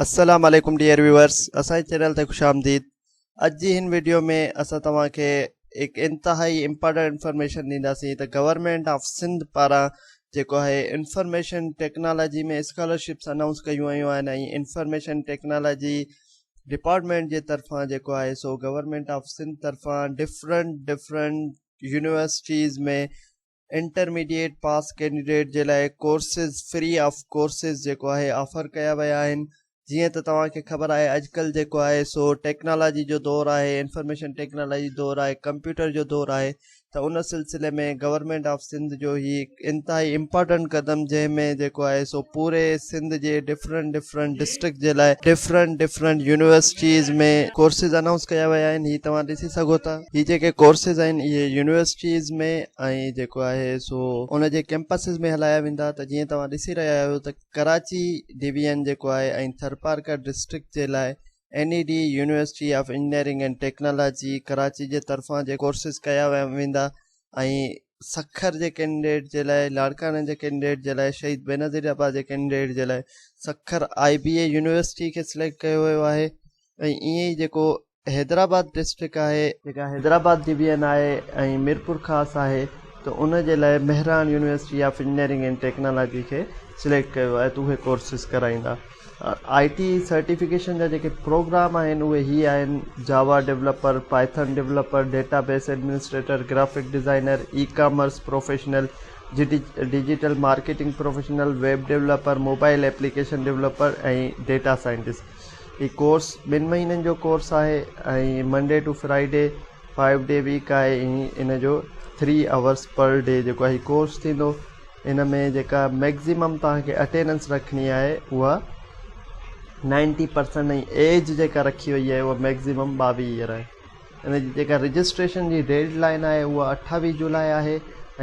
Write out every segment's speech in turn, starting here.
السلام عليڪم dear viewers اسان جي چينل تي خوش آمديد اڄ جي هن ويڊيو ۾ اسان توهان کي هڪ انتهائي امپارٽنٽ انفارميشن ڏينداسين ته گورنمنٽ آف سنڌ پاران جيڪو آهي انفارميشن ٽيڪنالاجي ۾ اسڪالرشپس اناؤنس ڪيون ويون آهن ۽ انفارميشن ٽيڪنالاجي ڊپارٽمنٽ جي طرفان جيڪو آهي سو گورنمنٽ آف سنڌ طرفان different different universities ۾ intermediate pass candidate جي لاء ڪورسز فري آف ڪورسز جيڪو آهي آفر ڪيا ويا آهن جيئن ته توهان کي خبر آهي اڄڪلهه جيڪو آهي سو ٽيڪنالاجي جو دور آهي انفارميشن ٽيڪنالاجي دور آهي ڪمپيوٽر جو دور آهي ته ان سلسلي ۾ گورنمينٽ آف سنڌ جو هي انتهائي امپارٽنٽ قدم جنهن ۾ جيڪو آهي سو پوري سنڌ جي ڊفرنٽ ڊفرنٽ ڊسٽرڪٽ جي لاء different different universities ۾ courses announce ڪيا ويا آهن هي توهان ڏسي سگهو ٿا هي جيڪي ڪورسز آهن اهي يونيورسٽيز ۾ ۽ جيڪو آهي سو ان جي ڪيمپسز ۾ هلايا ويندا ته جيئن توهان ڏسي رهيا آهيو ته ڪراچي ڊي وي اين جيڪو آهي ۽ ٿرپارڪر ڊسٽرڪٽ جي لاء N E D university of engineering and technology Karachi جي طرفان جي ڪورسز ڪيا ويندا ۽ سکر جي ڪينڊيڊيٽ جي لاء لاڙڪاڻي جي ڪينڊيڊيٽ جي لاء شهيد بينظير عباس جي ڪينڊيڊيٽ جي لاء Sukkur I B A university کي سليڪٽ ڪيو ويو آهي ۽ ائين ئي جيڪو حيدرآباد ڊسٽرڪٽ آهي جيڪا حيدرآباد ڊويزن آهي ۽ ميرپور خاص آهي ته ان جي لاء Mehran university of engineering and technology کي سليڪٽ ڪيو آهي ته اهي ڪورسز ڪرائيندا آئي ٽي سرٽيفڪيشن جا جيڪي پروگرام آهن اهي هي آهن Java developer Python developer data base administrator graphic designer e commerce professional digital marketing professional web developer mobile application developer ۽ data scientist هي ڪورس ٻن مهينن جو ڪورس آهي ۽ Monday to Friday five day week آهي ۽ ان جو ٿري آورس پر ڊي جيڪو هي ڪورس ٿيندو ان ۾ جيڪا ميڪزيمم توهان کي اٽيننس رکڻي آهي اها نائنٽي پرسنٽ ۽ ايج جيڪا رکي وئي آهي اها ميڪزيمم ٻاويهه ايئر آهي ان جي جيڪا رجسٽريشن جي ڊيڊ لائين آهي اها اٺاويهه جولاء آهي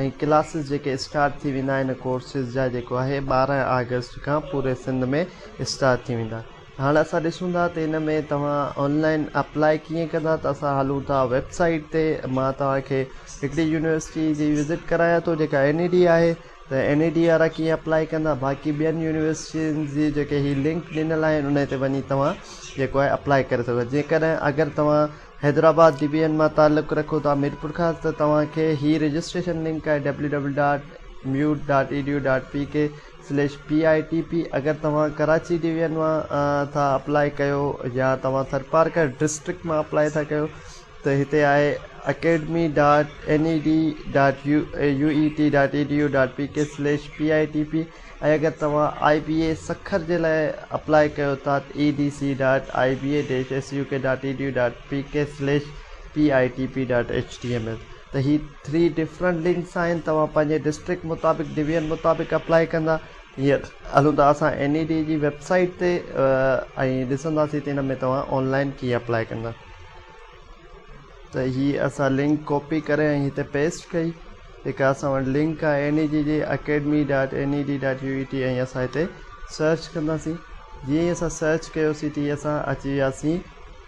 ۽ ڪلاسز جيڪي اسٽارٽ ٿي ويندا ان ڪورسز جا جيڪو آهي ٻارهن آگسٽ کان پوري سنڌ ۾ اسٽارٽ ٿي ويندا هاڻ اسان ڏسون ٿا ته ان ۾ توهان آنلائن اپلائي ڪيئن ڪندا ته اسان هلون ٿا ويب سائيٽ تي مان توهان کي هڪڙي يونيورسٽي جي وزٽ ڪرايان ٿو جيڪا اين اي ڊي آهي ته N E D R I ڪيئن اپلائي ڪندا باقي ٻين يونيورسٽين جي جيڪي هي لنڪ ڏنل آهن انهي تي وڃي توهان جيڪو آهي اپلائي ڪري سگهو جيڪڏهن اگر توهان حيدرآباد ڊي بي اين مان تعلق رکو ٿا ميرپور کان ته توهان کي هي رجسٽريشن لنڪ آهي W W dot MUET dot E D U dot P K slash P I T P اگر توهان ڪراچي ڊي بي اين مان ٿا اپلائي ڪيو يا توهان ٿرپارڪر ڊسٽرڪٽ مان اپلائي ٿا ڪيو ته هتي آهي academy dot N E D dot U E T dot E D U dot P K slash P I T P ۽ اگر توهان آء بي اي سکر جي لاء اپلاء ڪيو ٿا ته A D C dot I B A dash S U K dot E D U dot P K slash P I T P dot H T M L ته هي three different links آهن توهان پنهنجي district مطابق division مطابق apply ڪندا هينئر هلون ٿا اسان اين اي ڊي جي ويب سائيٽ تي ۽ ڏسنداسين ته ان ۾ توهان آن لائن ڪيئن اپلاء ڪندا ته هي اسان لنڪ ڪاپي ڪري ۽ هتي پيسٽ ڪئي جيڪا اسان وٽ لنڪ آهي N E G G academy dot N E D dot U E T ۽ اسان هتي سرچ ڪنداسين جيئن ئي اسان سرچ ڪيوسي تي اسان اچي وياسين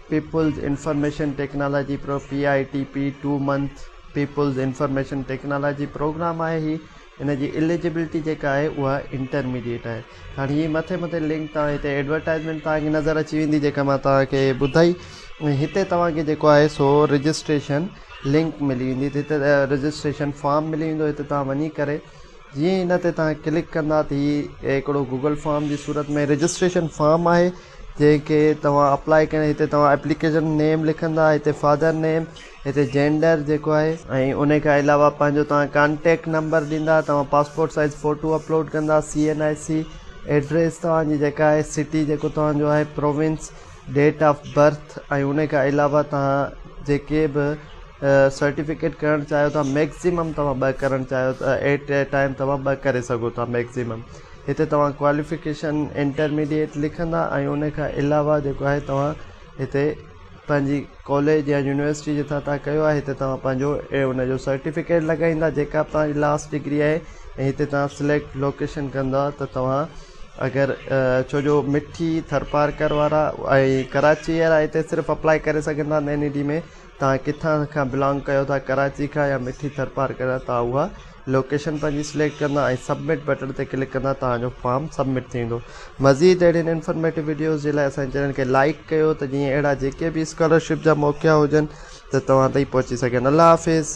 people's information technology pro P I T P two month people's information technology programme آهي هي ان جي اليجبلٽي جيڪا آهي اها انٽرميڊيٽ آهي هاڻي هي مٿي مٿي لنڪ توهان هتي ايڊورٽائزمينٽ توهان کي نظر اچي ويندي جيڪا مان توهان کي ٻڌائي ۽ هتي توهان کي جيڪو آهي سو رجسٽريشن لنڪ ملي ويندي ته هتي رجسٽريشن فارم ملي ويندو هتي توهان وڃي ڪري جيئن هن تي توهان ڪلڪ ڪندا ته هي هڪڙو گوگل فارم جي صورت ۾ رجسٽريشن فارم آهي جنهن کي توهان اپلائي ڪري هتي توهان اپليڪيشن نيم لکندا هتي فادر نيم هتي جينڊر جيڪو آهي ۽ انهي کان علاوه پنهنجو توهان ڪانٽيڪٽ نمبر ڏيندا توهان پاسپورٽ سائيز فوٽو اپلوڊ ڪندا C N I C address توهان جي جيڪا آهي سٽي جيڪو توهان جو آهي پروونس ڊيٽ آف برٿ ۽ انهي کان علاوه توهان جيڪي به سرٽيفڪيٽ ڪرڻ چاهيو ٿا ميڪسيمم توهان ٻه ڪرڻ چاهيو ٿا ايٽ اي ٽائيم توهان ٻه ڪري سگهو ٿا ميڪسيمم هتي توهان ڪواليفڪيشن انٽرميڊيٽ لکندا ۽ انهي کان علاوه جيڪو آهي توهان هتي پنهنجي ڪاليج يا يونيورسٽي جتان توهان ڪيو آهي هتي توهان پنهنجو ان جو سرٽيفڪيٽ لڳائيندا جيڪا به توهان جي لاسٽ ڊگري آهي ۽ هتي توهان سليڪٽ لوڪيشن ڪندا ته توهان اگر ڇو جو مٺي ٿرپارڪر وارا ۽ ڪراچي وارا هتي صرف اپلاء ڪري سگهن ٿا نئين اي ڊي ۾ توهان ڪٿان کان بلانگ ڪيو ٿا ڪراچي کان يا مٺي ٿرپارڪر جا توهان اها لوڪيشن پنهنجي سليڪٽ ڪندا ۽ سبمٽ بٽڻ تي ڪلڪ ڪندا توهان جو فارم سبمٽ ٿيندو مزيد اهڙين انفارميٽو وڊيوز جي لاء اسان جي چينل کي لائيڪ ڪيو ته جيئن اهڙا جيڪي به اسڪالرشپ جا موقعا هجن ته توهان تائين پهچي سگهن الله حافظ